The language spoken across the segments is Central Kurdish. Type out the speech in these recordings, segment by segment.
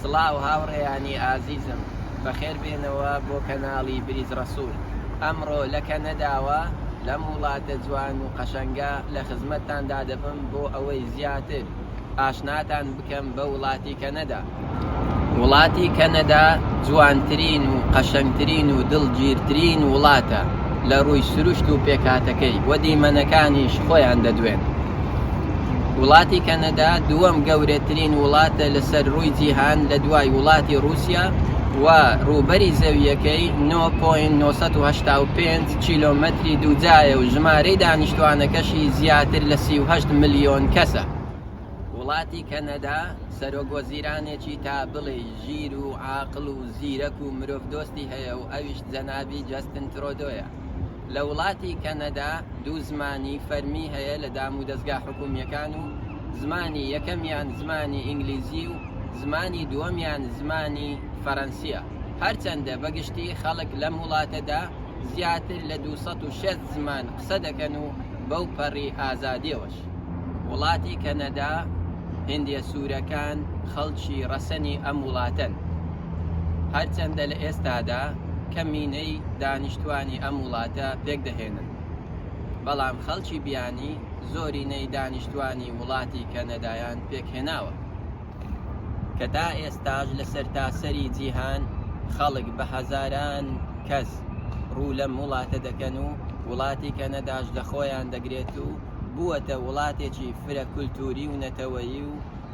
سڵاو هاوڕێیانی ئازیزم بەخێر بێنەوە بۆ کەناڵی بریز ڕەسوول ئەمڕۆ لە کەنەداوە لەم وڵاتە جوان و قەشەنگە لە خزمەتتاندا دەبم بۆ ئەوەی زیاتر ئاشناتان بکەم بە وڵاتی کەنەدا. وڵاتی کەنەدا جوانترین و قەشەنگترین و دڵگیرترین وڵاتە لە ڕووی سروشت و پێکهاتەکەی و دیمەنەکانیش خۆیان دەدوێن. وڵاتی کەنەدا دووەم گەورەترین وڵاتە لەسەر ڕووی جیهان لە دوای وڵاتی ڕووسیا و ڕووبەری زەوییەکەی 9.985 کیلۆمەتری دووجایە و ژمارەی دانیشتووانەکەشی زیاتر لە سی و هەشت ملیۆن کەسە. وڵاتی کەنەدا سەرۆک وەزیرانێکی تا بڵێی ژیر و عاقڵ و زیرەک و مرۆڤدۆستی هەیە و ئەویش جەنابی جەستن ترۆدۆیە. لە وڵاتی کەنەدا دوو زمانی فەرمی هەیە لە دامودەزگا حکوومییەکان و زمانی یەکەمیان زمانی ئینگلیزی و زمانی دووەمیان زمانی فەرەنسییە. هەرچەندە بە گشتی خەڵک لەم وڵاتەدا زیاتر لە دوو سەد و شەست زمان قسە دەکەن و بەو پەڕی ئازادیەوەش وڵاتی کەنەدا هندیە سوورەکان خەڵکی ڕەسەنی ئەم وڵاتەن هەرچەندە لە ئێستادا کەمینەی دانیشتوانی ئەم وڵاتە پێکدەهێنن بەڵام خەڵکی بیانی زۆرینەی دانیشتوانی وڵاتی کەنەدایان پێکهێناوە. کە تا ئێستاش لە سەرتاسەری جیهان خەڵک بە هەزاران کەس ڕوو لەم وڵاتە دەکەن و وڵاتی کەنەداش لە خۆیان دەگرێت و بووەتە وڵاتێکی فرە کولتووری و نەتەوەیی و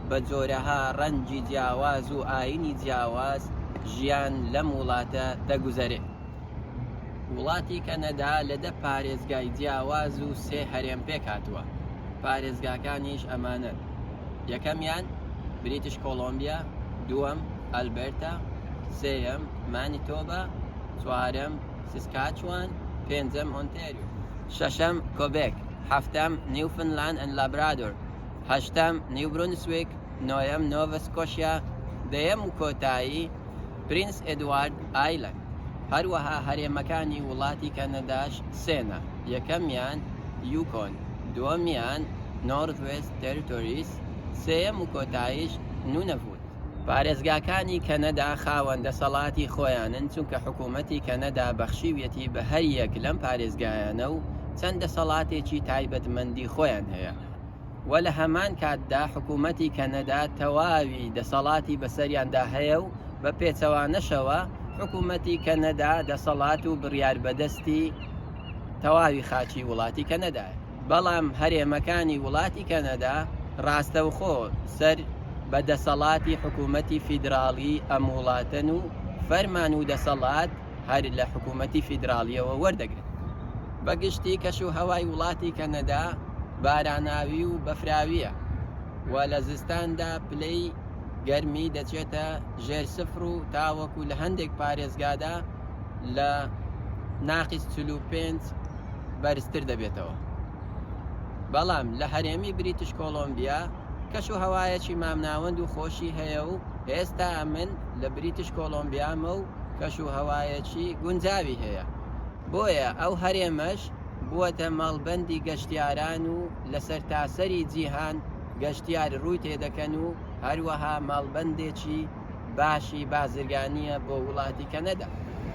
بە جۆرەها ڕەنجی جیاواز و ئایینی جیاواز ژیان لەم وڵاتە دەگوزەرێ. وڵاتی کەنەدا لە دە پارێزگای جیاواز و سێ هەرێم پێکهاتووە، پارێزگاکانیش ئەمانەن، یەکەمیان بریتش کۆڵۆمبیا، دووەم ئەلبەرتا، سێیەم مانیتۆبا، چوارەم سسکاچوان، پێنجەم ئۆنتاریۆ، شەشەم کۆبێک، حەفتەم نیوفنلاند ئەند لابرادۆر، هەشتەم نیو برونسویک، نۆیەم نۆڤا سکۆشیا، دەیەم و کۆتایی. پرینس ئێدوارد ئایلەند، هەروەها هەرێمەکانی وڵاتی کەنەداش سێنە، یەکەمیان یوکۆن، دووەمیان نۆرزوێست تێرتۆریس، سێیەم و کۆتاییش نونەڤوت. پارێزگاکانی کەنەدا خاوەن دەسەڵاتی خۆیانن، چونکە حکوومەتی کەنەدا بەخشیویەتی بە هەریەک لەم پارێزگایانە و چەند دەسەڵاتێکی تایبەتمەندی خۆیان هەیە. و لە هەمان کاتدا حکوومەتی کەنەدا تەواوی دەسەڵاتی بەسەریاندا هەیە و بە پێچەوانەشەوە حکوومەتی کەنەدا دەسەڵات و بڕیار بەدەستی تەواوی خاچی وڵاتی کەنەدایە بەڵام هەرێمەکانی وڵاتی کەنەدا ڕاستەوخۆ سەر بە دەسەڵاتی حکوومەتی فیدراڵی ئەم وڵاتەن و فەرمان و دەسەڵات هەر لە حکوومەتی فیدراڵییەوە وەردەگرن. بە گشتی کەش و هەوای وڵاتی کەنەدا باراناوی و بەفراوییە و لە زستاندا پلەی گەرمی دەچێتە ژێر سفر و تاوەکو لە هەندێک پارێزگادا لە ناقیس چل و پێنج بەرزتر دەبێتەوە. بەڵام لە هەرێمی بریتش کۆڵۆمبیا کەش و هەوایەکی مامناوەند و خۆشی هەیە و هێستا من لە بریتش کۆڵۆمبیامە و کەشوهەوایەکی گونجاوی هەیە، بۆیە ئەو هەرێمەش بووەتە مەڵبەندی گەشتیاران و لە سەرتاسەری جیهان گەشتیار رووی تێدەکەن و هەروەها مەڵبەندێکی باشی بازرگانییە بۆ وڵاتی کەنەدا.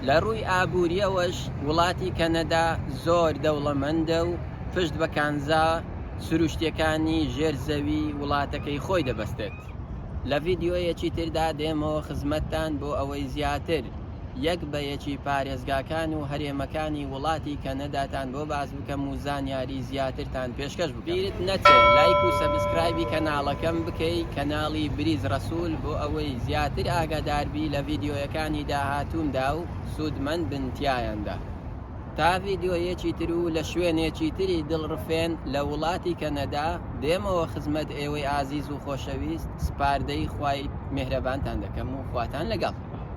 لە رووی ئابوورییەوەش وڵاتی کەنەدا زۆر دەوڵەمەندە و پشت بە کانزا سروشتییەکانی ژێر زەوی وڵاتەکەی خۆی دەبەستێت. بێت. لە ڤیدیۆیەکی تردا دێمەوە خزمەتتان بۆ ئەوەی زیاتر یەک بە یەکی پارێزگاکان و هەرێمەکانی وڵاتی کەنەداتان بۆ باس بکەم و زانیاری زیاترتان پێشکەش بکەم. بیرت نەچێ لایک و سەبسکرایبی کەناڵەکەم بکەی کەناڵی بریز رەسول بۆ ئەوەی زیاتر ئاگادار بی لە ڤیدیۆیەکانی داهاتوومدا و سوودمەند بن تیایاندا. تا ڤیدیۆیەکی تر و لە شوێنێکی تری دڵڕفێن لە وڵاتی کەنەدا بێمەوە خزمەت ئێوەی ئازیز و خۆشەویست سپاردەی خوای میهرەبانتان دەکەم و خواتان لەگەڵ.